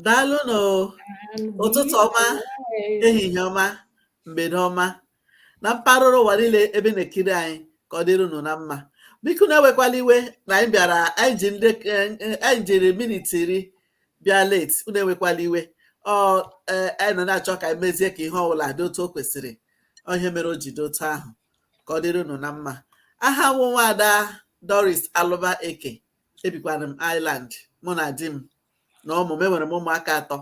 daalụ nụ ụtụtụ ọma ehihie ọma mgbede ọma na mpaghara ụwa niile ebe na-ekiri anyị ka ọ dịrị unu na mma biko unu ewekwala iwe na anyị bịara anyị ji ndị eh, eh, anyị jiri minit iri bịa late unu ewekwala iwe ọ eh, anyị nọ na-achọ ka anyị mezie ka ihe ọbụla dị otu o kwesịrị ọ ihe mere o ji dị otu ahụ ka ọ dịrị unu na mma aha m wụ nwaada Doris Alụba Eke ebikwara m Ireland mụ na di m na ụmụ m enwere m ụmụaka atọ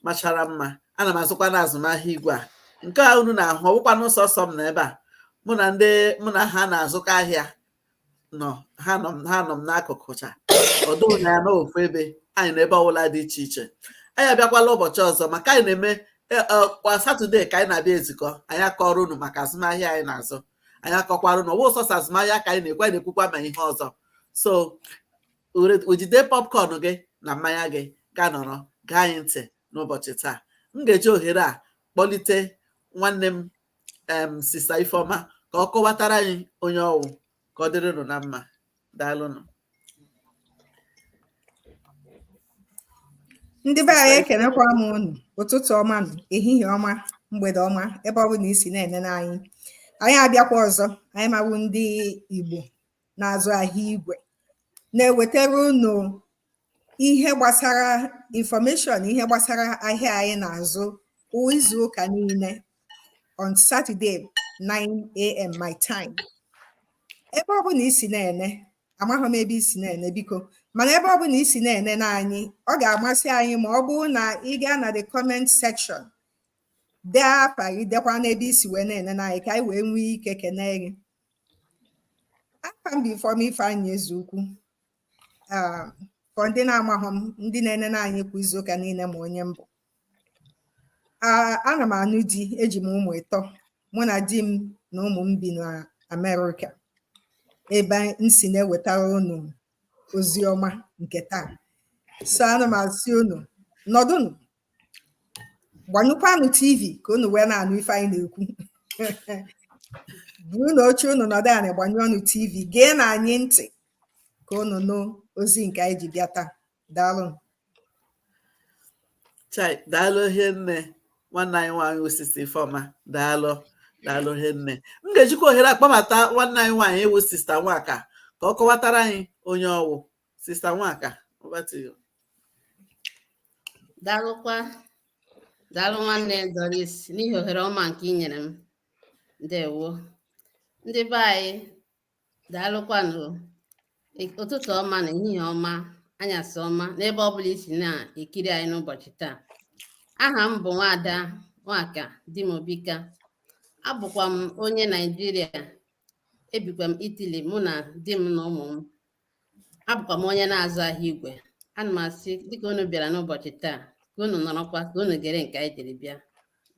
machara mma ana m azụkwa na azụmahịa igwe a nke a unu na-ahụ ọwụkwanụ sọsọ m na ebe a mụ na ndị mụ na ha na-azụkọ ahịa nọ ha nọ ha nọ m n'akụkụ cha ọwụ na anyị nọ ofu ebe anyị nọ ebe ọbụla dị iche iche anyị abịakwala ụbọchị ọzọ maka anyị na-eme e, e, kwa satọde ka anyị na-abịa ezukọ anyị akọrọ unu maka azụmahịa anyị na-azụ anyị akọkwara unu ọwụ sọsọ azụmahịa ka anyị na-ekwu anyị na-ekwukwa ma ihe ọzọ so were- jide popcorn gị na mmanya gị gaa nọrọ gee anyị ntị n'ụbọchị taa m ga-eji ohere a kpọlite nwanne m em sista ifeọma ka ọ kọwatara anyị onye ọwụ ka ọ dịrị unu na mma daalụnụ ndị be anyị ekenekwa m unu ụtụtụ ọma nụ ehihie ọma mgbede ọma ebe ọ bụla i si na-enene anyị anyị abịakwa ọzọ anyị nwa wụ ndị igbo na-azụ ahịa igwe na-ewetara unu ihe gbasara information ihe gbasara ahịa anyị na-azụ kwa izu ụka niile on Saturday 9am my time ebe ọ bụla i si na-ene amaghị m ebe i si na-ene biko mana ebe ọ bụla i si na-enene anyị ọ ga-amasị anyị ma ọ bụrụ na ị gaa na the comment section dee afa gị dekwanụ ebe i si wee na-enene anyị ka anyị wee nwee ike kenee gị afa m bụ Ifeoma Ifeanyi Ezeukwu um, for ndị na-amaghọ m ndị na-enene anyị kwa izu ụka niile ma onye m bụ ana m anụ di eji m ụmụ ịtọ mụ na di m na ụmụ m bi na Amerịka ebe m si na-ewetara unu ozi ọma nke taa so ana m asị unu nọdụnụ gbanyụkwanụ tv ka unu wee na-anụ ife anyị na-ekwu burunụ oche unu nọdụ anị gbanyụọnụ tv geenụ anyị ntị ka unu nụ ozi nke anyị ji bịa taa daalụ chai daalụ hie nne nwanne anyị nwaanyị wụ sista ifeọma daalụ daalụ hie nne m ga-ejikwa ohere a kpọbata nwanne anyị nwaanyị wụ sista nwaka ka ọ kọwatara anyị onye ọwụ sista nwaka over to you daalụkwa daalụ nwanne Doris n'ihi ohere ọma nke i nyere m ndewo ndị be anyị daalụkwanụ ụtụtụ ọma na ehihie ọma anyasị ọma n'ebe ọ bụla i si na-ekiri anyị n'ụbọchị taa aha m bụ nwaada nwaka dimobika abụkwa m onye naijiria ebikwa m Italy mụ na di m na ụmụ m abụkwa m onye na-azụ ahịa igwe ana m asị dịka unu bịara n'ụbọchị taa ka unu nọrọkwa ka unu gere nke anyị jiri bịa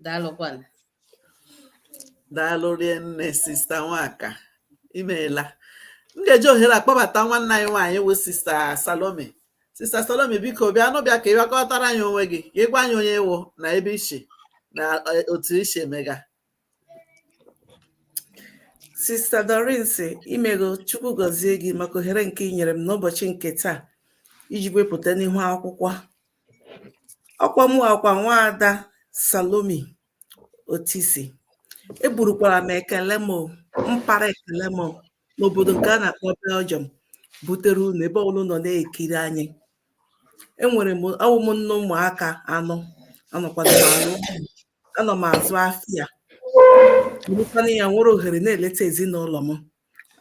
daalụkwanụ daalụ rie nne sista nwaka imeela m ga-eji ohere a kpọbata nwanne anyị nwaanyị wụ sista salome sista salome biko bịa nụ bịa ka ị bịa kọtara anyị onwe gị ka ị gwa anyị onye ị wụ na ebe i shi na eh, otu i shi emega Sista Doris imego Chukwu gọzie gị maka ohere nke ị nyere m n'ụbọchị nke taa iji wee pụta n'ihu akwụkwọ ọkwa mụwa kwa nwaada Salome Otisi eburukwara m ekele m mpara ekele m n'obodo nke a na-akpọ Belgium butere unu ebe ọbụla nọ na-ekiri anyị enwere m awụ m nne ụmụaka anọ anọkwara m anụ anọ m azụ afịa bụrụkwa onye nwere ohere na-eleta ezinụlọ m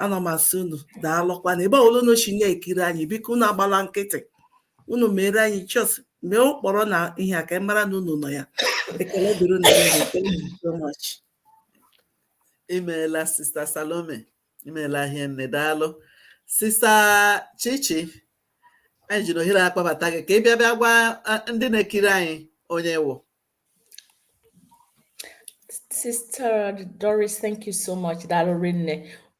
anọ m asị unu daalụkwana ebe ọbụla unu si na-ekiri anyị biko unu agbala nkịtị unu mere anyị just mee ụkpọrọ na ihe a ka anyị mara na unu nọ ya ekele dịrị unu niile. Thank you so much. imeela sista salome imeela hie nne daalụ sista chichi anyị ji na ohere a kpọbata gị ka ị bịa bịa gwa ah, ndị na-ekiri anyị onye ị wụ Sister Doris, thank you so much. Daalụ rinne.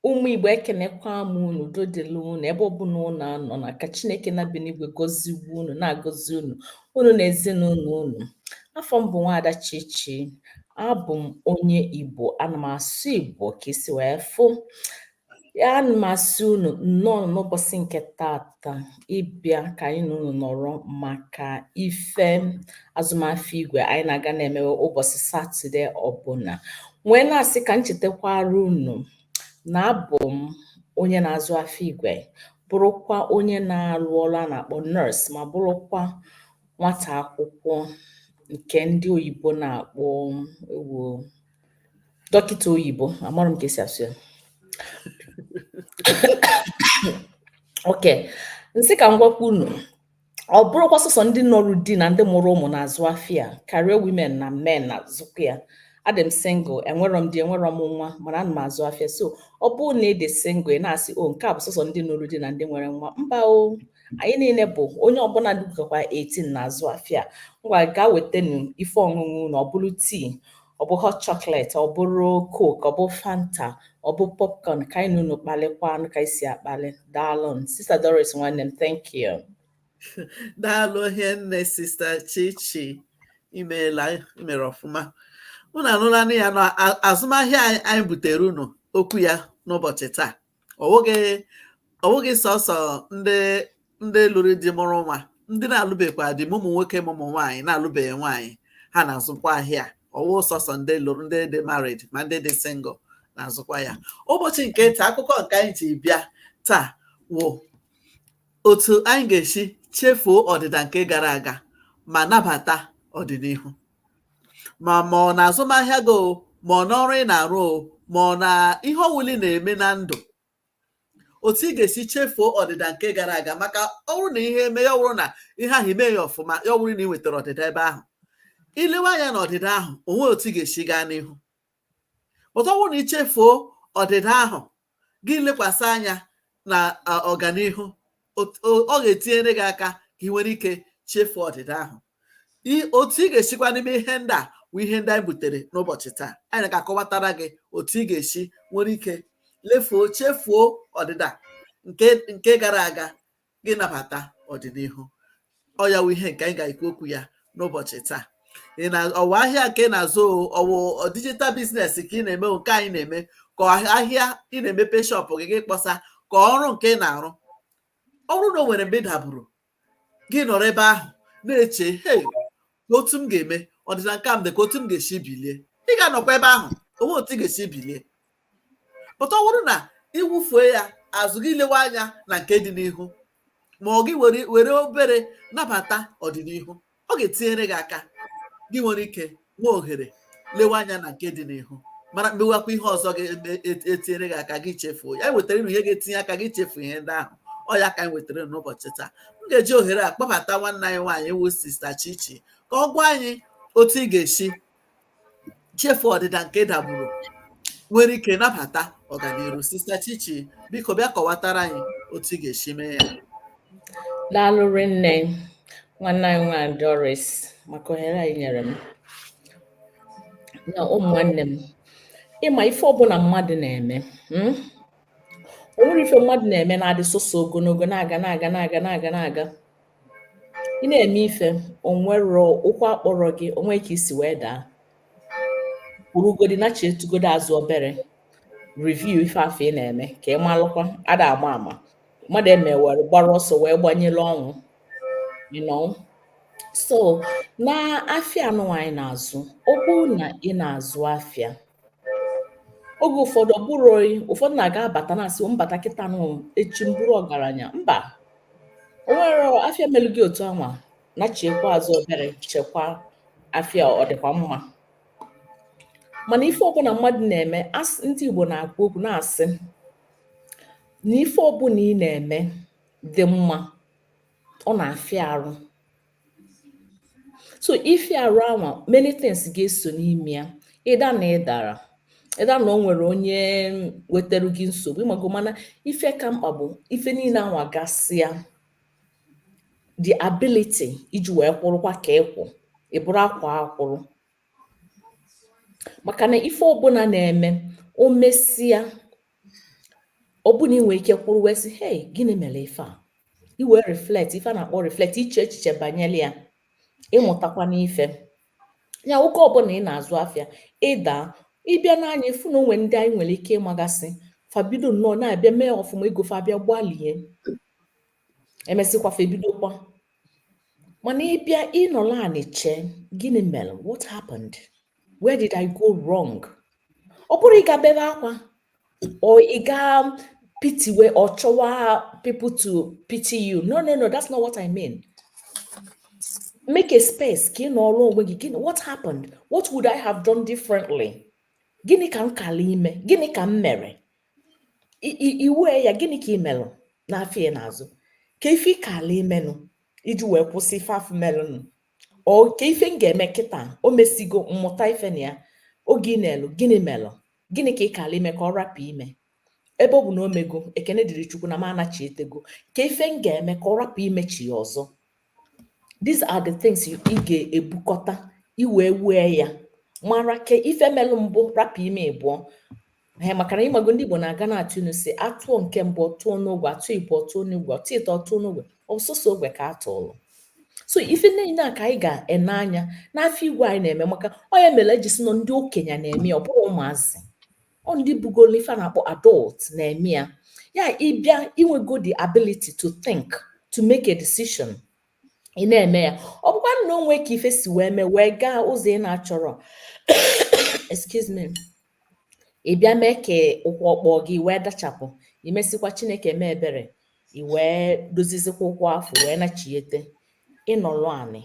Ụmụ Igbo ekenekwa m unu udo dịlị unu ebe ọbụla unu anọ na ka Chineke na-ebi n'igwe gọziwe unu na-agọzi unu unu na ezinụlọ unu. Afa m bụ Nwaada Chichi. Abụ m onye Igbo. Ana m asụ Igbo ka i si wee fụ. Ya ana m asị unu nnọọ n'ụbọsị nke taata ịbịa ka anyị na unu nọrọ maka ife azụmafịa igwe anyị na-aga na-emewe ụbọsị Satọde ọbụla. Wee na-asị ka m chetakwara unu na abụ m onye na-azụ afịa igwe, bụrụkwa onye na-arụ ọrụ a na-akpọ nurse ma bụrụkwa nwata akwụkwọ nke ndị oyibo na-akpọ ewo dọkịta oyibo amarọ m ka e si asụ ya okay m sị ka m gwakwa unu ọ bụrọkwa sọsọ ndị nụrụ di na ndị mụrụ ụmụ na-azụ afịa career women na men na-azụkwa ya adị m single enwerọ m di enwerọ m nwa mana ana m azụ afịa so ọ bụrụ na ị dị single ị na-asị o nke a bụ sọsọ ndị nụrụ di na ndị nwere nwa mba o anyị niile bụ onye ọbụla rugokwa 18 na-azụ afịa ngwa gaa wetanu ife ọṅụṅụ na ọ bụrụ tii ọ bụ hot chocolate ọ bụrụ coke ọ bụ fanta ọ bụ popcorn ka anyị na unu kpalịkwanụ ka anyị si akpalị daalụ sista doris nwanne m thank you daalụ hinne sista chichi imeela imere ọfụma unu anụlanụ ya na azụmahịa anyị butere unu okwu ya n'ụbọchị taa ọwụghị sọsọ ndị ndị lụrụ di mụrụ nwa ndị na-alụbekwa di ma ụmụ nwoke ma ụmụ nwaanyị na-alụbeghị nwaanyị ha na-azụkwa ahịa ọwụghị sọsọ ndị lụrụ ndị dị married ma ndị dị single na-azụkwa ahịa ụbọchị nke taa akụkọ nke anyị ji bịa taa wụ otu anyị ga-esi chefuo ọdịda nke gara aga ma nabata ọdịnihu ma ma ọ na azụmahịa gị o ma ọ n'ọrụ ị na-arụ o ma ọ na ihe ọwụla ị na-eme na ndụ otu ị ga-esi chefuo ọdịda nke gara aga maka ọwụrụ na ihe eme ya ọwụrụ na ihe ahụ ime ya ọfụma ya ọwụrụ na ị nwetara ọdịda ebe ahụ ilewe anya na ọdịda ahụ onweghị otu ị ga-esi gaa n'ihu but ọwụrụ na ichefuo ọdịda ahụ gị lekwasị anya na ọganihu ọ ga-etinyere gị aka ka ị nwere ike chefuo ọdịda ahụ otu ị ga-esikwanụ eme ihe ndị a wụ ihe ndị anyị butere n'ụbọchị taa anyị ga-akọwatara gị otu ị ga-esi nwere ike lefuo chefuo ọdịda nke gara aga gị nabata ọdịnihu ọ ya wụ ihe nke anyị ga-ekwu okwu ya n'ụbọchị taa ọwụ ahịa nke ị na-azụ ọwụ digital business ka ị na-eme nke anyị na-eme ka ahịa ị na-emepe shop gị gị kpọsa ka ọrụ nke ị na-arụ ọwụrụ na o nwere mgbe ị daburu gị nọrọ ebe ahụ na-eche he ka otu m ga-eme ọdịda nke m dị ka otu m ga-esi bilie ị ga-anọkwa ebe ahụ onweghị otu ị ga-esi bilie but ọwụrụ na iwufue ya azụ gị lewe anya na nke dị n'ihu ma ọ gị were obere nabata ọdịnihu ọ ga-etinyere gị aka gị nwere ike nwee ohere lewe anya na nke dị n'ihu mara mewakwa ihe ọzọ ga-etinyere e, e gị aka gị chefuo ya wetara ihe ga-etinye aka gị chefu ihe ndị ahụ ọ ya ka anyị wetara n'ụbọchị taa m ga-eji ohere a kpọbata nwanne anyị nwaanyị wụ sista Chichi ka ọ gwa anyị otu ị ga-esi chefu ọdịda nke ị daburu nwere ike nabata ọganihu sista Chichi biko bịa kọwatara anyị otu ị ga-esi mee ya daalụ rinne nwanne anyị nwaanyị Doris maka ohere a i nyere m na ụmụ nwanne m ịma ife ọbụla mmadụ na-eme hmm? o nwerọ ife mmadụ na-eme na-adị sọsọ ogologo na-aga na-aga na-aga na-aga na-aga ị na-eme ife onwerọ ụkwụ akpọrọ gị onwe ka isi wee daa kwụrụgodi nachetugodi azụ obere review ife afụ ị na-eme ka ị malụkwa ada ama ama mmadụ emee were gbara ọsọ wee gbanyere ọnwụ you know so na afịa anụnwa anyị na-azụ ọ bụrụ na ị na-azụ afịa oge ụfọdụ ọ bụrụ oyi ụfọdụ na-aga abata na-asị m bata kịta nụ echi m bụrụ ọgaranya mba o nwerọ afịa melu gị otu anwa nachikwa azụ obere chekwa afịa ọ dịkwa mma mana ife ọbụna mmadụ na-eme ndị Igbo na-akwu okwu na-asị nà ife ọbụnà ị nà-ème dị mmȧ ọ nà-àfịa arụ so ịfịa arụ anwà many things gà-esò n'imė ya either nà ị dàrà either nà o nwèrè onye wetara gị nsògbu ị màgo mànà ife kà mkpà bụ̀ ife niilė anwà gasịa the ability iji wèe kwụrụkwa kà ị kwụ̀ ị̀ bụrụ akwà akwụrụ maka na ife ọbụla na-eme o mesịa ọ bụ na ị nwee ike kwụrụ wee sị hey gịnị mere ife a i wee reflect ife a na-akpọ reflect iche echiche banyere ya ịmụtakwa n'ife ya oge ọbụla ị na-azụ afịa ị daa ị bịa nee anya ị fụ na o nwe ndị anyị nwere ike ịmagasị fa bido nnọọ na-abịa mee ọfụma ego fa abịa gbalie e mesịkwa fa ebidokwa mana ị bịa ị nọlụ anị chee gịnị mere what happened where did i go wrong ọ bụrọ ịga bebe akwa or ịga pitiwe or chọwa people to pity you no no no that's not what i mean make a space ka ị nọrọ onwe gị what happened what would i have done differently gịnị ka m kala ime gịnị ka m mere i wee ya gịnị ka ị melụ n'afịa ị na-azụ kee ife ị kala imenụ iji wee kwụsị ife afụ melụnụ or kee ife m ga-eme kịta o mesigo m mụta ife na ya oge ị na-elo gịnị melụ gịnị ka ị kala ime ka ọ rapụ ime ebe ọ bụ na o mego ekene dịrị chukwu na m anachietego kee ife m ga-eme ka ọ rapụ imechiya ọzọ these are the things ị ga-ebukọta i wee wee ya mara ka ife melụ mbụ rapụ ime ịbụọ ee maka na ị mago ndị Igbo na-aga na-atụ inu sị a tụọ nke mbụ ọ tụọ n'ogwe a tụọ ịbụọ ọ tụọ n'ogwe a tụọ ịtọ ọ tụọ n'ogwe ọ sọsọ ogwe ka a tụọlụ so ife niile a ka anyị ga-ene anya n'afịa igwe anyị na-eme maka ọ nya mere e ji sị na ọ ndị okenye na-eme ọ bụrọ ụmụazị ọ ndị bugolo ife a na-akpọ adult na-eme ya ya ị bịa i nwego the ability to think to make a decision ị na-eme ya ọ bụkwa na o nwe ka ife si wee mee wee gaa ụzọ ị na-achọrọ excuse me ị bịa mee ka ụkwụ akpọ gị i wee dachapụ e mesịkwa chineke mee ebere i wee dozizikwa ụkwụ afụ wee nachiete ị nọrọ anị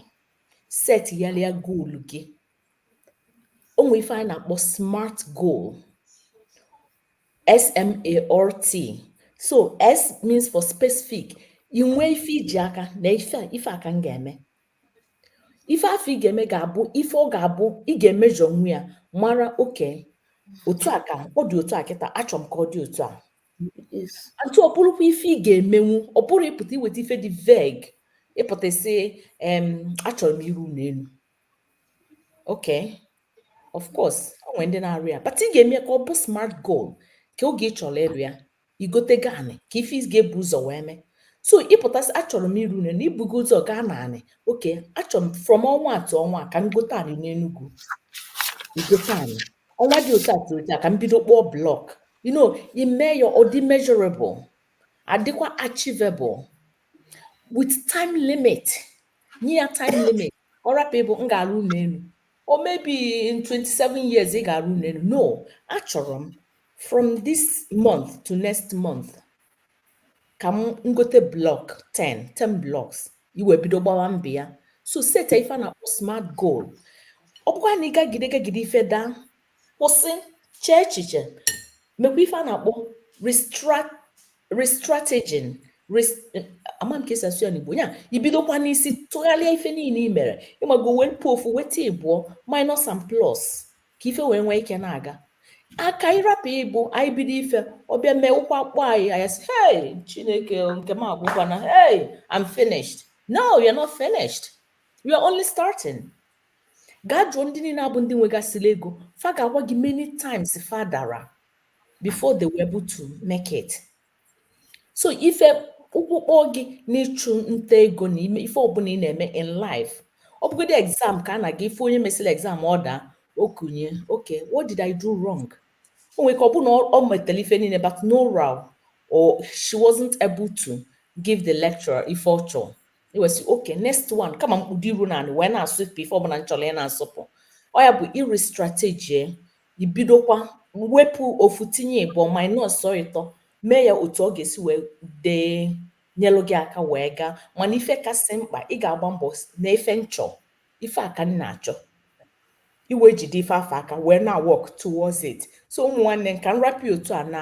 set yalịa goal gị o nwe ife anyị na-akpọ smart goal SMART so S means for specific inwe ife iji aka na ife a ka m ga-eme ife afụ ị ga-eme ga-abụ ife ọ ga-abụ ị ga-emeasure nwu ya mara okay otu a ka ọ dị otu a kịta achọrọ m ka ọ dị otu a and ọ bụrụkwa ife ị ga-emenwu ọ bụrọ ịpụta iweta ife dị vague ịpụta sị achọrọ m ịrụ ụnọ enu Okay. Of course, o nwere ndị na-arụ ya but ị ga-eme ka ọ bụ smart goal ka oge ị chọrọ ịrụ ya igotego anị ka ife ị ga-ebu ụzọ wee mee so ịpụta sị achọrọ m ịrụ ụnọ enu ibugo ụzọ gaa na anị okay achọrọ m from ọnwa a to ọnwa a ka m gote anị n'Enugu igote anị ọnwa dị otu a to otu a ka m bido kpụọ block you know ime ya ọ dị measurable adịkwa achievable with time limit nye ya time limit ọ rapụ ịbụ m ga-arụ ụnọ enu or maybe in 27 years ị ga-arụ ụnọ enu no achọrọ m from this month to next month ka m gote block 10 10 blocks i wee bido gbawa mbọ ya so seta ife a na-akpọ smart goal ọ bụkwa na ị gagide gagide ife daa kwụsị chee echiche mekwa ife a na-akpọ restrategizing ama m ka esi asụ ya n'igbo ya ibidokwa n'isi tụgharịa ife niile i mere ịmago wepụ ofu weta ịbụọ minus and plus ka ife wee nwee ike na-aga aka ịrapụ ịbụ anyị bido ife ọ bịa mee ụkwụ akpọ anyị anyị sị hey chineke nke m agwụkwana hey I'm finished no you're not finished you're only starting gaa jụọ ndị niile a bụ ndị nwegasịrị ego fa ga-agwa gị many times fa dara before they were able to make it so if ụkwụ kpọ gị n'ịchụ nta ego na ime ife ọbụla ị na-eme in life ọ bụgodị exam ka a na-aga if onye mesịrị exam ọ daa ọ kunie okay what did I do wrong o nwere ike ọ bụ na ọ metara ife niile but no row or she wasn't able to give the lecturer ife ọ chọrọ i wee sị okay next one ka m makpudo iru na anị wee na-asụpụ ife ọbụla m chọrọ ị na-asụpụ ọ ya bụ ị restrategize ibidokwa wepụ ofu tinye ịbụọ minus ọ ịtọ mee ya otu ọ ga-esi wee dee nyelụ gị aka wee gaa mana ife kasị mkpa ị ga-agba mbọ na ife m chọ ife a ka m na-achọ i wee jide ife afụ aka wee na work towards it so ụmụ nwanne m ka m rapụ otu a na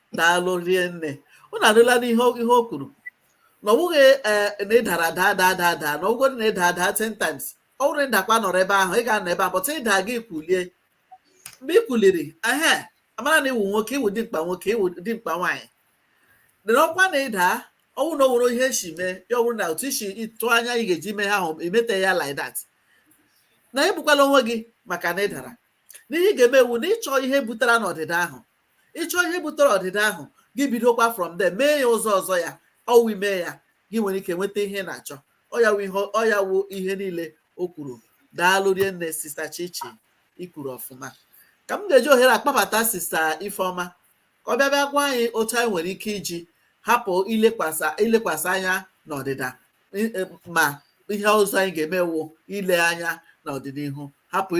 daalụ rinne unu anụlanụ ihe o kwuru na ọ bụghị e, na ị dara daa daa daa daa na ọ gwụgo na ị daa daa ten times ọ bụrụ ị dakwa nọrọ ebe ahụ ị ga-anọ ebe ahụ but ị daa gị kulie mgbe ị kuliri ehe a mara na ị wụ nwoke ị wụ dimkpa nwoke ị wụ dimkpa nwaanyị dị n'ọkwa na ị daa ọ wụ na o nwere ihe e si mee ya ọ bụrụ na otu i si tụọ anya ị ga-eji mee ihe ahụ emete ya like that na egbukwala onwe gị maka na ị dara na ihe ị ga-eme wụ na ị chọọ ihe butere n'ọdịda ahụ ị chọọ ihe butere ọdịda ahụ gị bidokwa from there mee ya ụzọ ọzọ ya ọ wụ i mee ya gị nwere ike nweta ihe na-achọ ọ ya wụ ihe niile o kwuru daalụ rinne sista chichi i kwuru ọfụma ka m ga-eji ohere a kpọbata sista ifeọma ka ọ bịa bịa gwa anyị otu anyị nwere ike iji hapụ ilekwasị anya n'ọdịda ma ihe ọzọ anyị ga-eme wụ ile anya n'ọdịnihu hapụ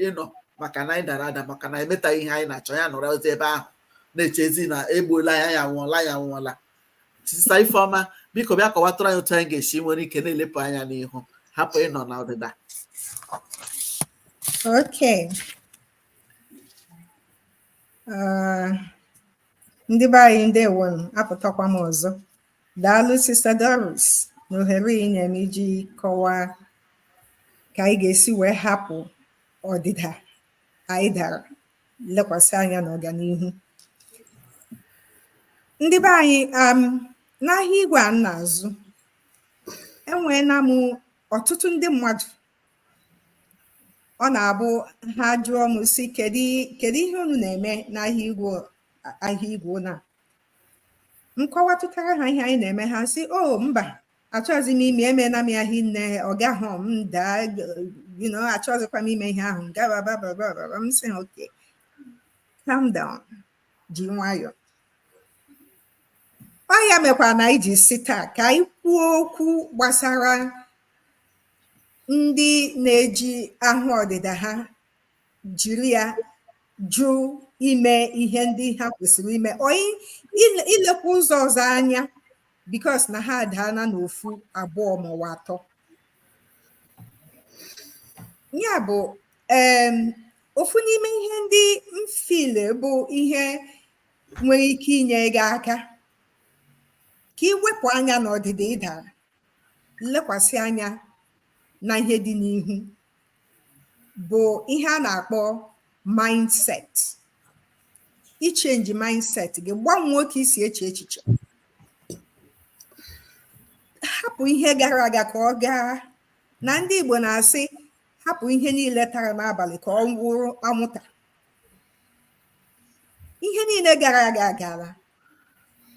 ịnọ maka na anyị dara ada maka na emetaghị ihe anyị na-achọ anyị nọrọzi ebe ahụ na-echezi na egbuola anyị anyị anwụọla anyị anwụọla sista ifeọma biko bịa kọwatụrụ anyị otu anyị ga-esi nwere ike na-elepụ anya n'ihu hapụ ịnọ n'ọdịda Okay. Uh, ndị be anyị ndewonụ apụtakwa m ọzọ Daalụ Sista Doris na ohere ị nyere m iji kọwaa ka anyị ga-esi wee hapụ ọdịda anyị dara lekwasị anya n'ọganihu. Ndị be anyị um, n'ahịa igwe a m na-azụ enweela m ọtụtụ ndị mmadụ ọ na-abụ ha jụọ m sị kedu kedu ihe unu na-eme n'ahịa igwe ahịa igwe na m kọwatụtara ha ihe anyị na-eme ha sị o oh, mba achọghịzi m ime emeela m ahịa nne ọ gaghị m daa achọghịzikwa m ime ihe ahụ gabababababa m sị okay calm down ji nwayọọ ọ ya mekwa na anyị ji sị taa ka anyị kwuo okwu gbasara ndị na-eji ahụ ọdịda ha jiri ya jụ ime ihe ndị ha kwesịrị ime or ilekwa ụzọ ọzọ anya because na ha adaala n'ofu abụọ maọwụ atọ ya bụ ofu n'ime ihe ndị m feel bụ ihe nwere ike inye gị aka ka ị wepụ anya n'ọdịda ị dara lekwasị anya na ihe dị n'ihu bụ ihe a na-akpọ mindset ịchange mindset gị gbanwee otu i si eche echiche hapụ ihe gara aga ka ọ gaa na ndị Igbo na-asị hapụ ihe niile tara n'abalị ka ọ wụrụ anwụta ihe niile gara aga agaala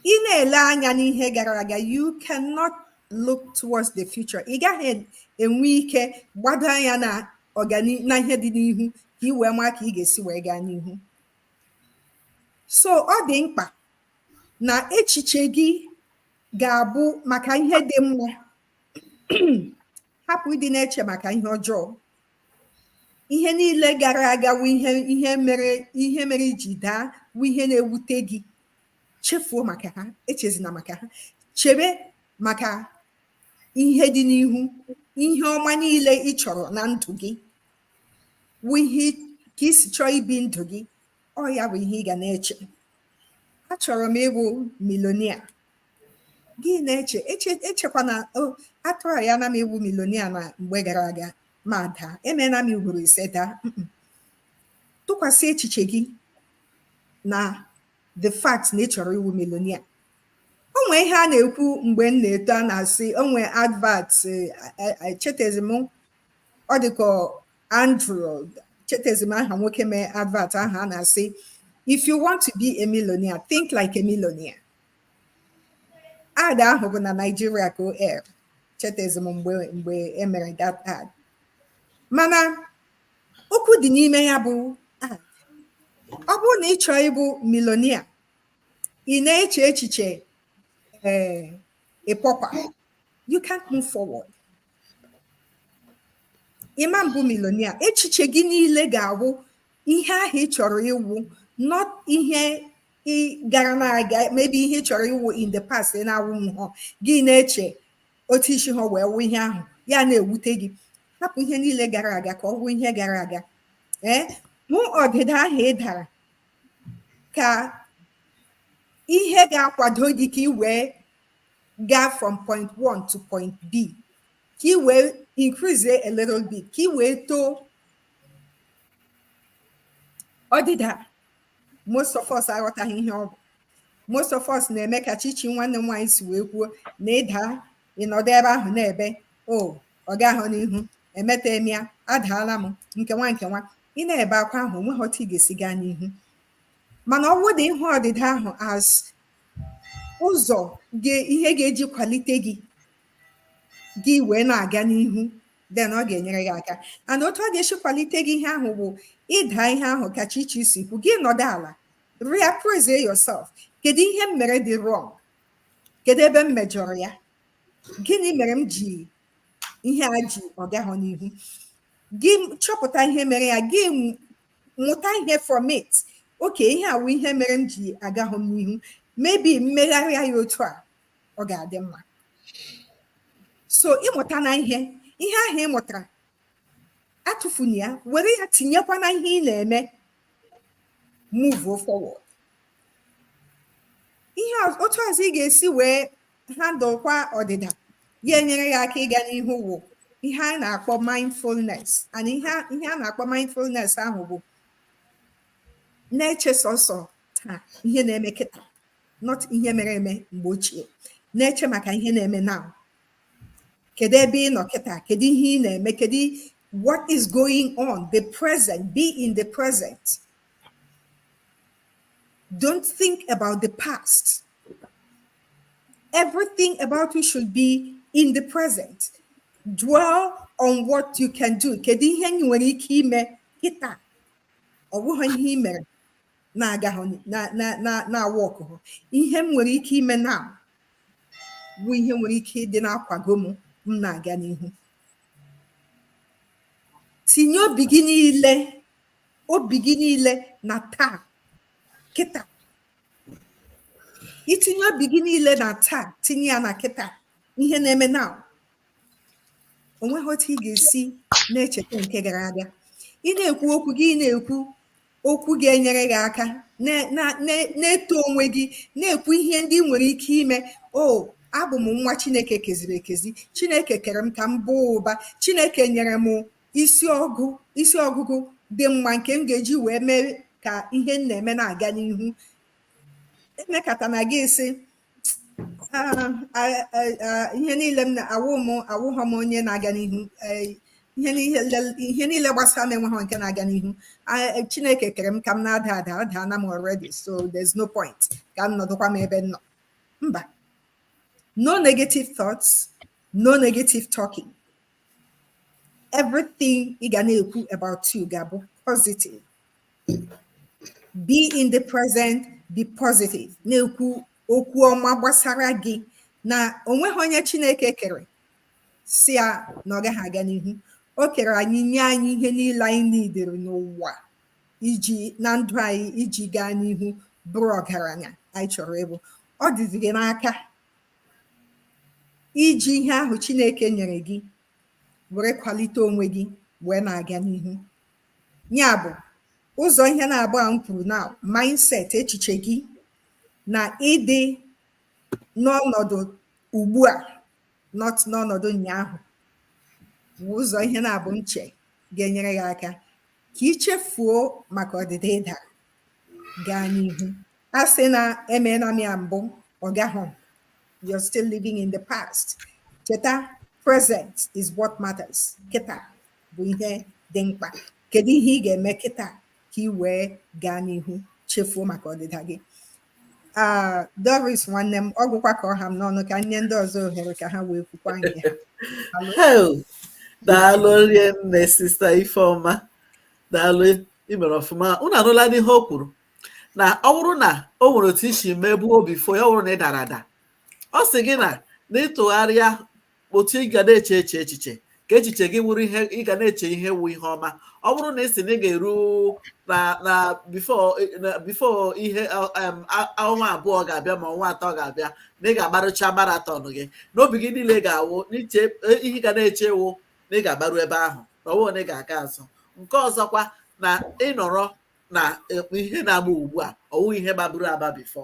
ị na-ele anya n'ihe gara aga you cannot look towards the future ị gaghị enwe ike gbado anya na ọganihu na ihe dị n'ihu ka ị wee maa ka ị ga-esi wee gaa n'ihu so ọ dị mkpa na echiche gị ga-abụ maka ihe dị mma hapụ ịdị na-eche maka ihe ọjọọ ihe niile gara aga wụ ihe ihe mere ihe mere i ji daa wụ ihe na-ewute gị chefuo maka ha echezina maka ha chebe maka ihe dị n'ihu ihe ọma niile ị chọrọ na ndụ gị wụ ihe ka i si chọọ ibi ndụ gị ọ ya bụ ihe ị ga na-eche achọrọ m ịbụ milonia gị na-eche echekwana atryana m ịwụ milonia na mgbe gara aga ma daa emeena m ugboro ise daa tụkwasị echiche gị na the fact na ị chọrọ ịwụ milonia o nwee ihe a na-ekwu mgbe m na-eto a na-asị o nwee advert echetezi m ọ dịka andrew chetezi m aha nwoke mee advert ahụ a na-asị if you want to be a millionaire think like a millionaire ad ahụ bụ na Naịjirịa ka o er chetezi m mgbe mgbe e mere that ad mana okwu dị n'ime ya bụ ad ọ bụrụ na ị chọọ ịbụ milonia ị na-eche echiche ee a pauper you can't move forward ị ma-abụ milonia echiche gị niile ga-awụ ihe ahụ ị chọrọ ịwụ not ihe ị gara na-aga maybe ihe ị chọrọ ịwụ in the past ị na-awụhọ gị na-eche otu i si ha wee wụ ihe ahụ ya na-ewute gị hapụ ihe niile gara aga ka ọ wụ ihe gara aga ee hụ ọdịda ahụ ị dara ka ihe ga-akwado gị ka ị wee gaa from point one to point b ka ị wee increase a little bit ka ị wee too ọdịda most of us aghọtaghị ihe ọ bụ most of us na-eme ka chichi nwanne m nwaanyị si wee kwuo na ị daa ị nọdụ ebe ahụ na-ebe o oh, ọ gahọ n'ihu emeta m ya adaala m nke nwa nke nwa ị na-ebe akwa ahụ o nwehọ otu ị ga-esi gaa n'ihu mana ọ bụrụ ị hụ ọdịda ahụ as ụzọ ihe ga-eji kwalite gị gị wee na-aga n'ihu then ọ ga-enyere gị aka and otu ọ ga-esi kwalite gị ihe ahụ bụ ịda ihe ahụ ka chichi si kwu gị nọdụ ala reappraise yourself kedu ihe m mere dị wrong kedu ebe m mejọrọ ya gịnị mere m ji ihe a ji ọ gahụ n'ihu gị chọpụta ihe mere ya gị mụta ihe from it okay ihe a wụ ihe mere m ji agahụ n'ihu maybe m megharịa ya otu a ọ ga-adị mma so ị mụtana ihe ihe ahụ ị mụtara atụfuna ya were ya tinyekwa na ihe ị na-eme move forward ihe otu ọzọ ị ga-esi wee handlekwa ọdịda ya enyere ya aka ịga n'ihu wụ ihe a na-akpọ mindfulness and ihe a na-akpọ mindfulness ahụ bụ na-eche sọsọ taa ihe na-eme kịta not ihe mere eme mgbe ochie na-eche maka ihe na-eme now kedu ebe ị nọ kịta kedu ihe ị na-eme kedu what is going on the present be in the present don't think about the past everything about you should be in the present dwell on what you can do kedu ihe ị nwere ike ime kịta ọ bụghị ihe ị mere na-agaha na-aworkụha ihe m nwere ike ime now bụ ihe nwere ike ịdị na-akwago m m na-aga n'ihu tinye obi gị niile obi gị niile na taa kịta i tinye obi gị niile na taa tinye ya na kịta ihe na-eme now o nweghị otu ị ga-esi na-echeta nke gara aga ị na-ekwu okwu gị na-ekwu okwu ga-enyere gị aka na-eto onwe gị na-ekwu ihe ndị ị nwere ike ime oh abụ m nwa chineke keziri ekezi chineke kere m ka m baa ụba chineke nyere m isi ọgụ isi ọgụgụ dị mma nke m ga-eji wee mee ka ihe m na-eme na-aga n'ihu emekatana gị sị ihe niile m na-awụ m awụghọ m onye na-aga n'ihu ihe niile gbasara m enweghị nke na-aga n'ihu chineke kere m ka m na-ada ada adana m already so there's no point ka m nọdụkwa m ebe m nọ mba no negative thoughts no negative talking everything ị ga na-ekwu about you ga-abụ positive be in the present be positive na-ekwu okwu ọma gbasara gị na onweghị onye chineke kere sị ya na ọ gaghị aga n'ihu o kere anyị nye anyị ihe niile anyị nidere n'ụwa iji na ndụ anyị iji gaa n'ihu bụrụ ọgaranya anyị chọrọ ịbụ ọ dịzi gị n'aka iji ihe ahụ chineke nyere gị were kwalite onwe gị wee na-aga n'ihu ya bụ ụzọ ihe naabọ a m kwuru na mindset echiche gị na ịdị n'ọnọdụ ugbu a not n'ọnọdụ ụnyaahụ bụ ụzọ ihe naabọ m che ga-enyere gị aka ka i chefuo maka ọdịda ị da gaa n'ihu asịna emeela m ya mbụ ọ gaghị you're still living in the past kịta present is what matters kịta bụ ihe dị mkpa kedu ihe ị ga-eme kịta ka ị wee gaa n'ihu chefuo maka ọdịda gị ah, Doris nwanne m ọ gwụkwa ka ọ ha m n'ọnụ ka m nye ndị ọzọ ohere ka ha wee kwukwa nke ha daalụ rinne sista Ifeoma daalụ i mere ọfụma unu anụlanụ ihe o kwuru na ọ bụrụ na o nwere otu i si mebuo bifo ya ọ bụrụ na ị dara ada ọ sị gị na na ịtụgharịa otu ị ga na-eche eche echiche ka echiche gị wụrụ ihe ị ga na-eche ihe wụ ihe ọma ọ bụrụ na ị sị na ị ga-eru na na bifo na bifo ihe ọ- em, a- ọnwa abụọ ga-abịa ma ọnwa atọ ga-abịa na ị ga-agbarucha marathon gị na obi gị niile ga-awụ n'iche e- ihe ị ga na-eche wụ na ị ga-agbaru ebe ahụ na ọ wụghị na ị ga-aga azụ nke ọzọkwa na ị nọrọ na eh, ihe na-agba ugbu a ọ wụghị ihe gbaburu agba bifo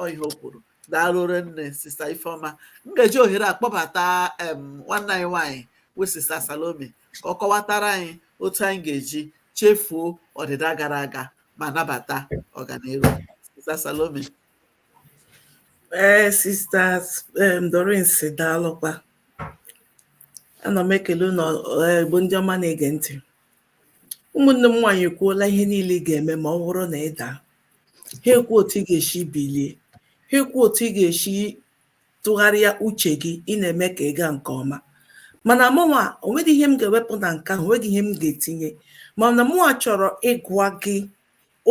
ọ ihe o kwuru daalụ rinne sista ifeọma m ga-eji ohere a kpọbata em nwanne anyị nwaanyị wụ sista salome ka ọ kọwatara anyị otu anyị ga-eji chefuo ọdịda gara aga ma nabata ọganiru sista salome Ee, sisters um, Doris daalụkwa ana m ekele unu bụ ndị ọma na-ege ntị ụmụnne m nwaanyị ekwuola ihe niile ị ga-eme ma ọ bụrụ na ị daa ha ekwuo otu ị ga-esi bilie ha ekwuo otu ị ga-esi tụgharịa uche gị ị na-eme ka ị gaa nke ọma mana mụnwa onweghị ihe m ga-ewepụ na nke ahụ onweghị ihe m ga-etinye mana mụnwa chọrọ ịgwa gị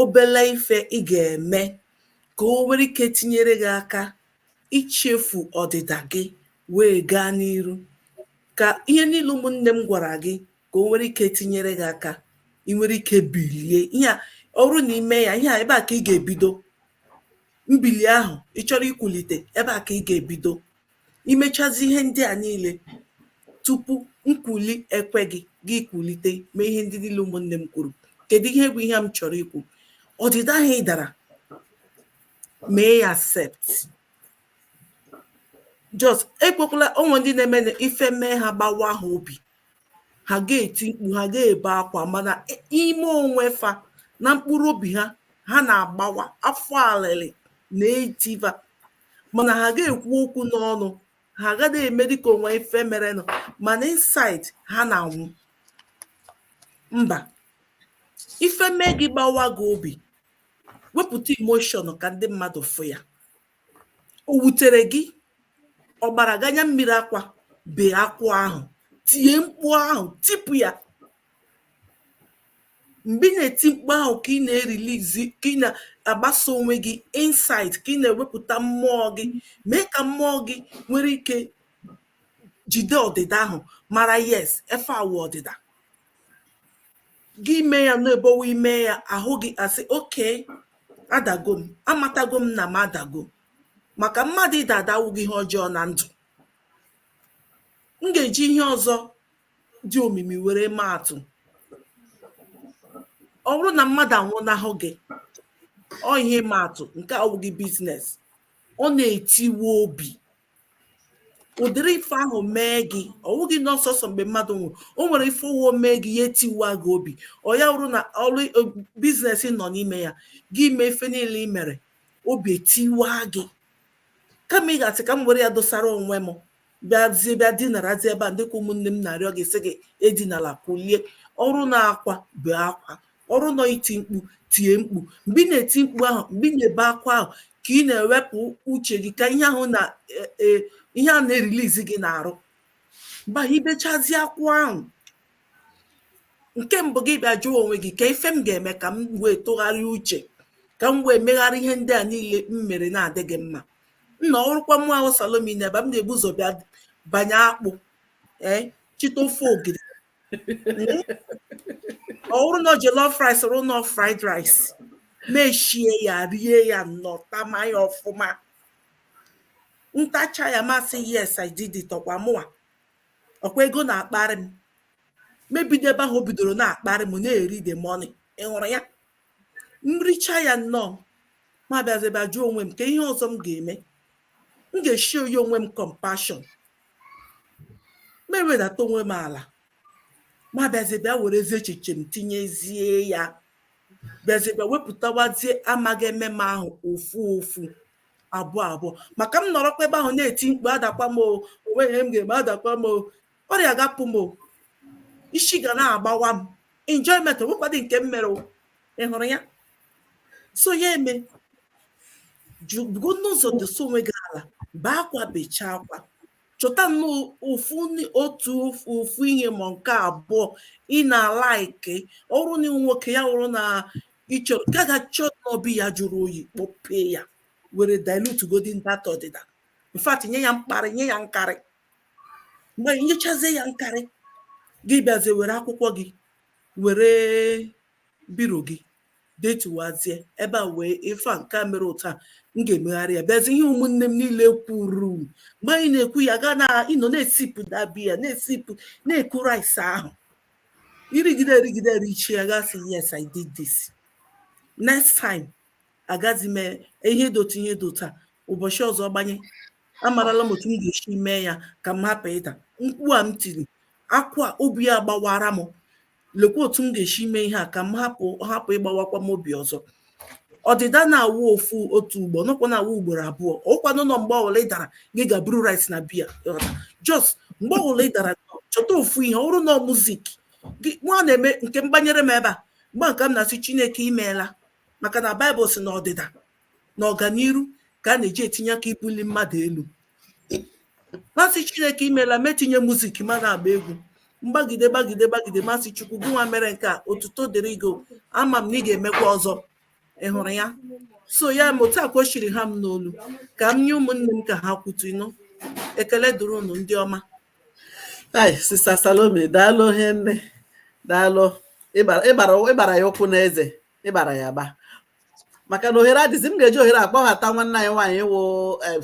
obele ife ị ga-eme ka o nwere ike tinyere gị aka ichefu ọdịda gị wee gaa n'iru ka ihe niile ụmụnne m gwara gị ka o nwere ike tinyere gị aka ị nwere ike bilie ihe a ọrụ na ime ya ihe a ebe a ka ị ga-ebido mbili ahụ ị chọrọ ikwulite ebe a ka ị ga-ebido imechazi ihe ndị a niile tupu nkwuli ekwe gị gị kwulite mee ihe ndị niile ụmụnne m kwuru kedu ihe wụ ihe m chọrọ ikwu ọdịda ahụ ị dara mee ya accept just ekwekwala o nwe ndị na-eme na ife mee ha gbawa ha obi ha ga-eti mkpu ha ga-ebe akwa mana ime onwe fa na mkpụrụ obi ha ha na-agbawa afọ alịlị na-eji fa mana ha ga-ekwu okwu n'ọnụ ha agaghị eme dịka o nwe ife merenụ mana inside ha na-anwụ mba ife mee gị gbawa gị obi wepụta emotion ka ndị mmadụ fụ ya O wutere gị, ọ gbara gị anya mmiri akwa, bee akwa ahụ, tie mkpu ahụ, tipụ ya. Mgbe ị na-eti mkpu ahụ ka ị na-erelease ka ị na-agbasa onwe gị inside ka ị na-ewepụta mmụọ gị, mee ka mmụọ gị nwere ike jide ọdịda ahụ mara yes ife a wụ ọdịda. gị mee ya n'ebowe ime ya ahụ gị asị okay adago m amatago m na m adago maka mmadụ ịda ada awụghị ihe ọjọọ na ndụ m ga-eji ihe ọzọ dị omimi were maa atụ ọ bụrụ na mmadụ anwụnahụ gị ọ ihe ịma atụ nke awụghị business ọ na-etiwe obi ụdịrị ife ahụ mee gị ọ wụghị na ọ sọsọ mgbe mmadụ nwụrụ o nwere ife ụwa mee gị ya etiwa gị obi ọ ya wụrụ na ọrụ e, business nọ n'ime ya gị mee ife niile ị mere obi etiwa gị kama ị ga-asị ka m were ya dosara onwe m bịazie bịa dinarazi ebe a dịka ụmụnne m na-arịọ gị sị gị edinala kulie ọrụ na akwa bee akwa ọrụ na ọ iti mkpu tie mkpu mgbe ị na-eti mkpu ahụ mgbe ị na-ebe akwa ahụ ka ị na-ewepụ uche gị ka ihe ahụ na e, e, ihe a na-erelease gị n'arụ mgbe ahụ ibechazi akwa ahụ nke mbụ gị bịa jụọ onwe gị kee ife m ga-eme ka m wee tụgharịa uche ka m wee megharị ihe ndị a niile m mere na-adịghị mma nna ọrụkwa mụ ahụ salome na ebe m ga-ebu ụzọ bịa banye akpụ ee chịta ofe ogiri ọ bụrụ na jollof rice ọrụ na fried rice m eshie ya rie ya nnọọ tama ya ọfụma m tachaa ya m asị yes i did it ọkwa mụwa ọkwa ego na-akparị m m ebido ebe ahụ o bidoro na-akparị m na-eri the money ị hụrụ ya m richaa ya nnọọ m abịazi bịa jụọ onwe m kee ihe ọzọ m ga-eme m ga-eshow onwe m compassion m ewedata onwe m ala ma bịazie bịa werezie echiche m tinyezie ya bịazie bịa wepụtawazie amaghị eme m ahụ ofu ofu abụọ abụọ maka m nọrọkwa ebe ahụ na-eti mkpu adakwa m o onweghị ihe m ga-eme adakwa m o ọrịa ga-apụ m o isi ga na-agbawa m enjoyment onwekwadị nke m mere ị hụrụ ya so ya eme jugo n'ụzọ dosa onwe gị ala bee akwa bechaa akwa chọta nnọọ ofu ni- otu ofu- ofu ihe ma nke abụọ ị na-alike ọ wụrụ na ịwụ nwoke ya wụrụ na ịchọrọ gaa ga chọọ nnọọ biya jụrụ oyi kpọpee ya were dilute godi that ọdịda in fact nye ya mkparị nye ya nkarị mgbe nyechazie ya nkarị gị bịazie were akwụkwọ gị were biro gị detuwazie ebe a wee ife a nke a mere otu a m ga-emegharị ya bịazi ihe ụmụnne m niile kwuru mgbe anyị na-ekwu ya ga na ịnọ na-esipụ that biya na-esipụ na-eku rice ahụ irigide erigide erichie ya gị asị yes i did this next time agazi m eme ihe dị otu ihe dị otu a ụbọchị ọzọ gbanye amarala m otu m ga-esi mee ya ka m hapụ ịda mkpu a m tiri akwa obi a gbawara m lekwa otu m ga-esi eme ihe a ka m hapụ hapụ ịgbawakwa m obi ọzọ ọdịda na-awụ ofu otu ugbo nọkwa na-awụ ugboro abụọ ọkwanụ na mgbe ọbụla ị dara gị ga buru rice na biya just mgbe ọbụla ị dara chọta ofu ihe ọ wụrụ na muzik gị nwa na-eme nke m gbanyere m ebe a mgbe nke m na-asị chineke imeela maka na baịbụl si na ọdịda na ọganiru ka a na-eji etinye aka ibuli mmadụ elu mụ asị chineke imeela m etinye muzik ma na-agba egwu m gbagide gbagide gbagide mụ asị chukwu gị nwa mere nke a otuto dịrị gị ama m na ị ga-emekwa ọzọ ị hụrụ ya so ya ma otu a kwa o siri ha m n'olu ka m nye ụmụnne m ka ha kwutu ịnụ ekele dịrị unu ndị ọma ai sista salome daalụ hie nne daalụ ịgbara ya ụkwụ n'eze ịgbara ya agba maka na ohere adịzi m ga-eji ohere a kpọghata nwanne anyị nwaanyị wụ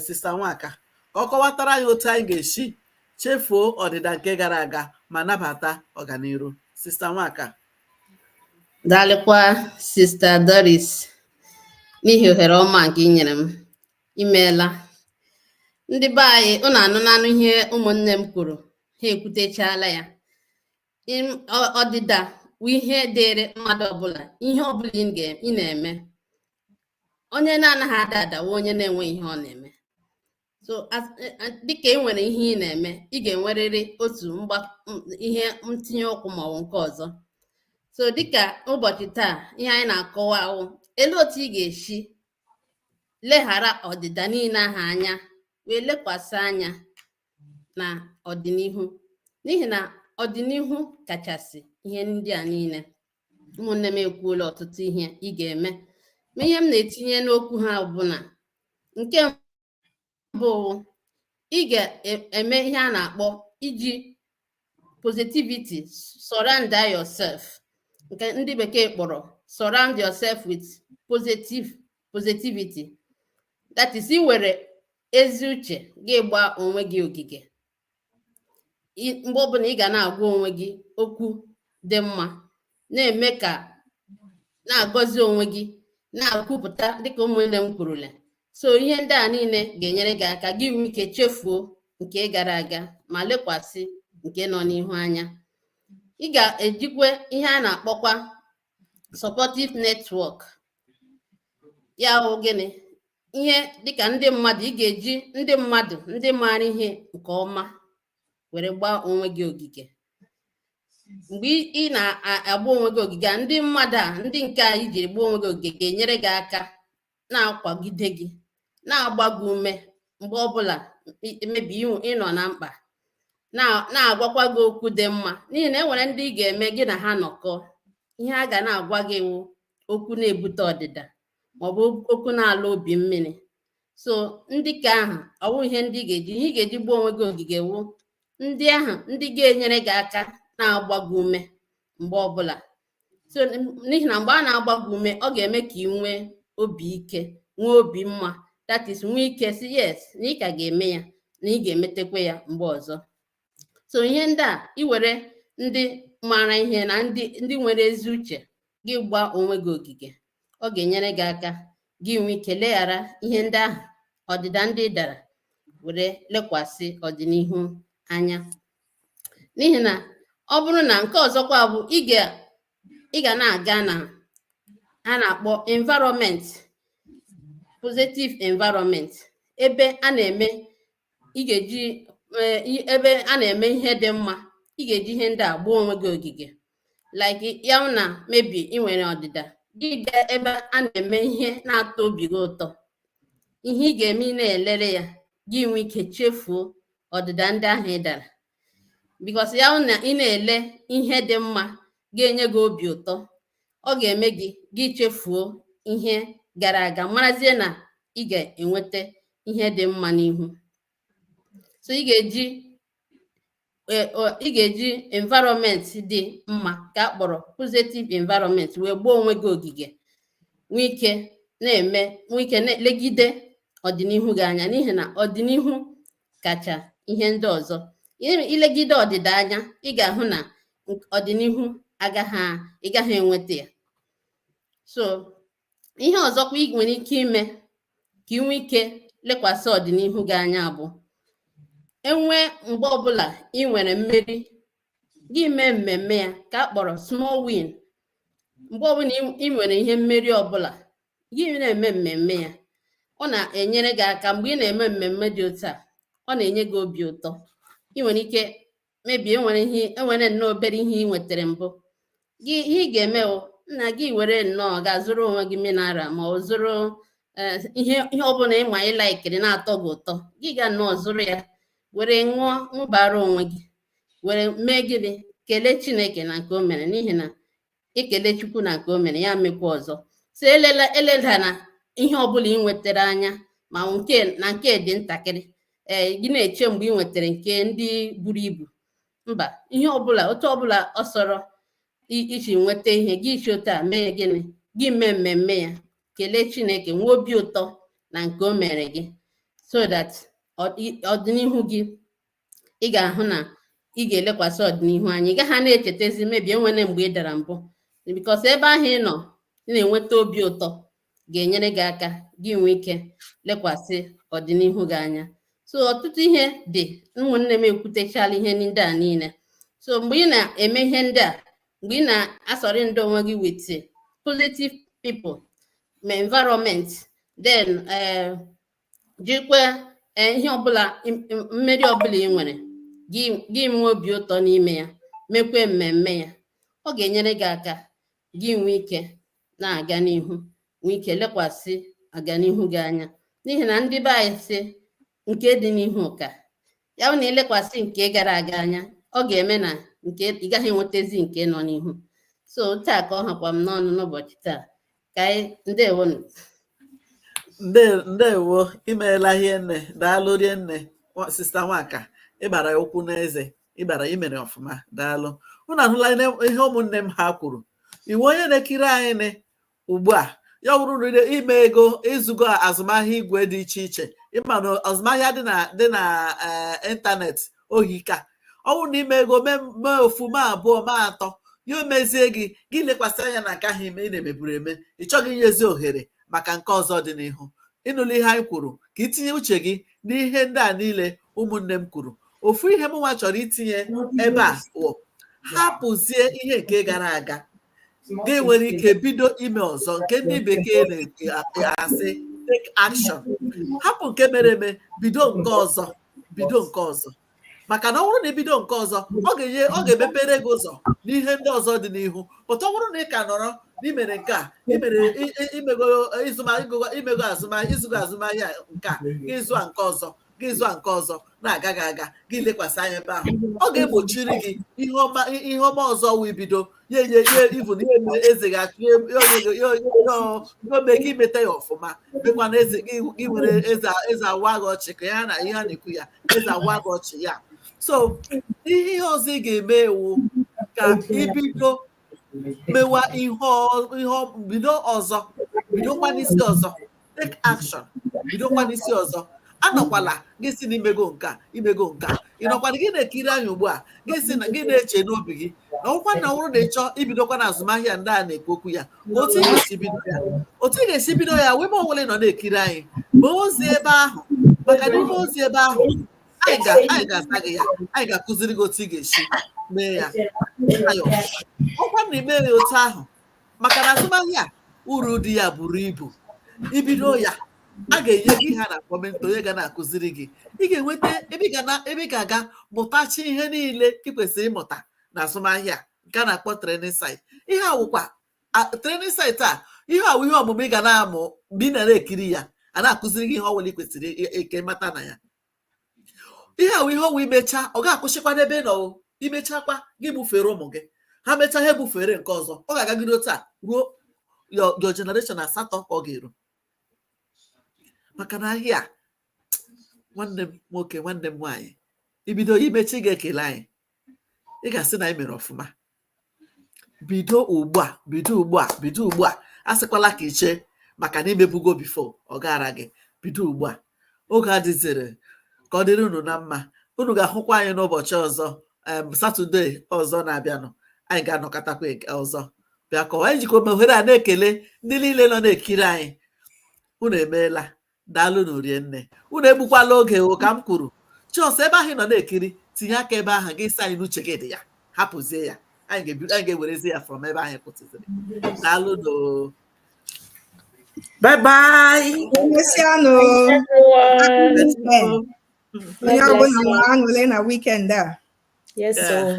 sista nwaka ka ọ kọwatara anyị otu anyị ga-esi chefuo ọdịda nke gara aga ma nabata ọganiru sista nwaka daalụkwa sista Doris n'ihi ohere ọma nke ị nyere m imeela ndị be anyị ụnụ anụnanụ ihe ụmụnne m kwuru ha ekwutechala ya ọdịda wụ ihe dịrị mmadụ ọbụla ihe ọbụla ị na-eme onye na-anaghị ada ada wụ onye na-enweghị ihe ọ na-eme so e, e, dịka ị nwere ihe ị na-eme ị ga-enwerịrị otu ihe ntinye ụkwụ maọbụ nke ọzọ so dịka ụbọchị taa ihe anyị na-akọwa wụ elee otu ị ga-esi leghara ọdịda niile ahụ anya wee lekwasị anya na ọdịnihu n'ihi na ọdịnihu kachasị ihe ndị a niile ụmụnne m ekwuola ọtụtụ ihe ị ga-eme ma ihe m na-etinye n'okwu ha bụ na nke mbụ wụ ị ga-eme ihe a na-akpọ iji positivity surround yourself nke ndị bekee kpọrọ surround yourself with positive positivity that is iwere ezi uche gị gbaa onwe gị ogige mgbe ọbụla ị ga na-agwa onwe gị okwu dị mma na-eme ka na-agọzi onwe gị na-akwupụta dịka ụmụnne m kwurule so ihe ndị a niile ga-enyere gị aka gị nwee ike chefuo nke gara aga ma lekwasị nke nọ n'ihu anya ị ga-ejikwa ihe a na-akpọkwa supportive network ya wụ gịnị ihe dịka ndị mmadụ ị ga-eji ndị mmadụ ndị maara ihe nke ọma were gbaa onwe gị ogige mgbe ị na-agba onwe gị ogige a ndị mmadụ a ndị nke a i ji gbaa onwe gị ogige ga-enyere gị aka na-akwagide gị na-agba gị ume mgbe ọbụla maybe ị nọ na mkpa na-agwakwa gị okwu dị mma n'ihi na e nwere ndị ị ga-eme gị na ha nọkọ ihe a ga na-agwa gị wụ okwu na-ebute ọdịda maọbụ okwu na-alọ obi mmiri so ndị ka ahụ ọwụ ihe ndị ga-eji ihe ị ga-eji gbaa onwe gị ogige wụ ndị ahụ ndị ga-enyere gị aka na-agba gị ume mgbe ọbụla so n'ihi na mgbe a na-agba gị ume ọ ga-eme ka ị nwee obi ike nwee obi mma that is nwee ike sị yes na ị ka ga-eme ya na ị ga-emetekwa ya mgbe ọzọ so ihe ndị a iwere ndị maara ihe na ndị ndị nwere ezi uche gị gbaa onwe gị ogige ọ ga-enyere gị aka gị nwee ike leghara ihe ndị ahụ ọdịda ndị ị dara were lekwasị ọdịnihu anya n'ihi na ọ bụrụ na nke ọzọkwa bụ ị ga ị ga na-aga na a na-akpọ environment positive environment ebe a na-eme ị ga-eji eh, i- ebe a na-eme ihe dị mma ị ga-eji ihe ndị a gbaa onwe gị ogige like ya wụ na maybe ị nwere ọdịda gị gaa ebe a na-eme ihe na-atọ obi gị ụtọ ihe ị ga-eme ị na-elere ya gị nwee ike chefuo ọdịda ndị ahụ ị dara because ya wụ na ị na-ele ihe dị mma ga-enye gị obi ụtọ ọ ga-eme gị gị chefuo ihe gara aga marazie na ị ga-enweta ihe dị mma n'ihu so ị ga-eji e, ị ga-eji environment dị mma ka a kpọrọ positive environment wee gbaa onwe gị ogige nwee ike na-eme nwee ike na-elegide ọdịnihu gị anya n'ihi na ọdịnihu kacha ihe ndị ọzọ ilegide ọdịda anya ị ga-ahụ na ọdịnihu agaghị ị gaghị enweta ya so ihe ọzọkwa ị nwere ike ime ka ị nwee ike lekwasị ọdịnihu gị anya bụ enwe mgbe ọbụla ị nwere mmeri gị mee mmemme ya ka a kpọrọ small win mgbe ọbụla ị nwere ihe mmeri ọbụla gị na-eme mmemme ya ọ na-enyere gị aka mgbe ị na-eme mmemme dị otu a ọ na-enye gị obi ụtọ ị nwere ike maybe e nwere ihe enwere nnọọ obere ihe ị nwetara mbụ gị ihe ị ga-eme bụ nna gị were nnọọ ga zụrụ onwe gị mineral ma ọ zụrụ eh, ihe ihe ọbụla ị ma ị laikiri na-atọ gị ụtọ gị ga nnọọ zụrụ ya were ṅụọ ṅụbara onwe gị were mee gịnị kelee chineke na nke o mere n'ihi na ekele chukwu na nke o mere ya mekwa ọzọ so elela eledana ihe ọbụla ị nwetara anya ma nke na nke dị ntakịrị ee gị na-eche mgbe ị nwetara nke ndị buru ibu mba ihe ọbụla otu ọbụla ọ sọrọ i- iji nweta ihe gị isi otu a mee gịnị gị mee mmemme ya kelee chineke nwee obi ụtọ na nke o mere gị so that ọ- i- ọdịnihu gị ị ga-ahụ na ị ga-elekwasị ọdịnihu anya ị gaghị na-echetezi maybe enwere mgbe ị dara mbụ because ebe ahụ ị nọ ị na-enweta obi ụtọ ga-enyere gị aka gị nwee ike lekwasị ọdịnihu gị anya so ọtụtụ ihe dị ụmụnne m ekwutechala ihe ndị a niile so mgbe ị na-eme ihe ndị a mgbe ị na-asurround onwe gị with positive people ma environment then eh, jikwe eh, ihe ọbụla mmeri ọbụla ị nwere gị nwee obi ụtọ n'ime ya mekwe mmemme ya ọ ga-enyere gị aka gị nwee ike na-aga n'ihu nwee ike lekwasị aganihu gị anya n'ihi na ndị be anyị sị nke dị n'ihu ka ya bụ na elekwasị nke gara aga anya ọ ga-eme na nke ị gaghị enwetezi nke nọ n'ihu so taa ka ọ hakwa m n'ọnụ n'ụbọchị taa ka anyị ndewonụ Nde- ndewo imeela hie nne daalụ rie nne nwa- sister Nwaka ịgbara ya ụkwụ n'eze ịgbara imere ọfụma daalụ unu ahụla ihe ihe ụmụnne m ha kwuru ị wụ onye na-ekiri anyị nị ugbu a ya wụrụ na imego ịzụgo azụmahịa igwe dị iche iche ị ma na azụmahịa dị na dị na eh, ịntanetị ọ hika ọ bụrụ na imego mee mee ofu ma abụọ ma atọ ya emezie gị gị lekwasị anya na nke ahụ ime ị na-emeburu eme ị chọghị inyezi ohere maka nke ọzọ dị n'ihu ịnụla ihe anyị kwuru ka itinye uche gị n'ihe ndị a niile ụmụnne m kwuru ofu ihe m nwa chọrọ itinye ebe a bụ hapụzie ihe nke gara aga gị nwere ike bido ime ọzọ nke ndị bekee na-asị take action hapụ nke mere eme bido nke ọzọ bido nke ọzọ maka na ọ bụrụ na i bido nke ọzọ ọ ga-enye ọ ga-emepere gị ụzọ n'ihe ndị ọzọ dị n'ihu but ọ bụrụ na ị ka nọrọ na i mere nke a i mere i mego azụmahịa ị zụgo azụmahịa nke a ị zụa nke ọzọ gị zụọ nke ọzọ na-agaghị aga gị elekwasị anya ebe ahụ ọ ga-egbochiri gị ihe ọma ihe ọma ọzọ wee bido ya enye ihe ibu na ihe mere eze gị achụ ya onye gị- ya onye gị- ya ọ- ya o mee gị i meta ya ọfụma dịkwa na eze gị gị nwere eze eze awa gị ọchị ka ya na ihe a na-ekwu ya eze awa gị ọchị ya so ihe ihe ọzọ ị ga-eme wụ ka i bido mewa ihe bido ọzọ bidokwa n'isi ọzọ take action bidokwa n'isi ọzọ anọkwala gị sị na i mego nke a i mego nke a ị nọkwala gị na-ekiri anyị ugbu a gị sị na gị na-eche n'obi gị na ọkwa na ọ wụrụ na ị chọ ibidokwa na azụmahịa ndị a na-ekwu okwu ya otu ị ga-esi bido ya otu ị ga-esi bido ya ebe ọbụla ị nọ na-ekiri anyị mee ozi ebe ahụ maka na i mee ozi ebe ahụ anyị ga-asa gị ya anyị ga-akụziri gị otu ị ga-esi mee ya ọkwa na i mee ya otu ahụ maka na azụmahịa uru dị ya buru ibu i bido ya a ga-enye gị ihe a na-akpọ mentor onye ga na-akụziri gị ị ga-enweta ebe ị ga-aga mụtachaa ihe niile ị kwesịrị ịmụta na azụmahịa nke a na-akpọ training site ihe a wụkwa training site a ihe ọwụ ihe ọmụmụ ị ga na-amụ mgbe ị nara ekiri ya a na-akụziri gị ihe ọwụla ị kwesịrị ka ị mata na ya ihe ọwụ ihe ọwụ i mechaa ọ ga-akwụsịkwa n'ebe ị nọ i mechakwa gị ebufere ụmụ gị ha mechaa ha ebufere nke ọzọ ọ ga-agagide otu a ruo your generation asatọ ka ọ ga-eru maka na ahịa nwanne m nwoke nwanne m nwaanyị i bido i mechaa ị ga-ekele anyị ị ga-asị na anyị mere ọfụma bido ugbu a bido ugbu a bido ugbu a asịkwala ka i chee maka na i mebugo before ọ gara gị bido ugbu a oge adịzịrọ ka ọ dịrị unu na mma unu ga-ahụkwa anyị n'ụbọchị ọzọ em satọde ọzọ na-abịanụ anyị ga-anọkọtakwa eke- ọzọ bịa kọwa anyị jikwa ohere a na-ekele ndị niile nọ na-ekiri anyị unu emeela daalụnụ rinne unu egbukwala oge o ka m kwuru just ebe ahụ ị nọ na-ekiri tinye aka ebe ahụ gị sị anyị na uche gị dị ya hapụzie ya anyị ga-ebi- anyị ga-ewerezi ya from ebe anyị kwụsịrị daalụnụ o. bye bye Emesịanụ Everyone. weekend. Onye ọbụla nwere aṅụrị na weekend a. Yes, Yeah. so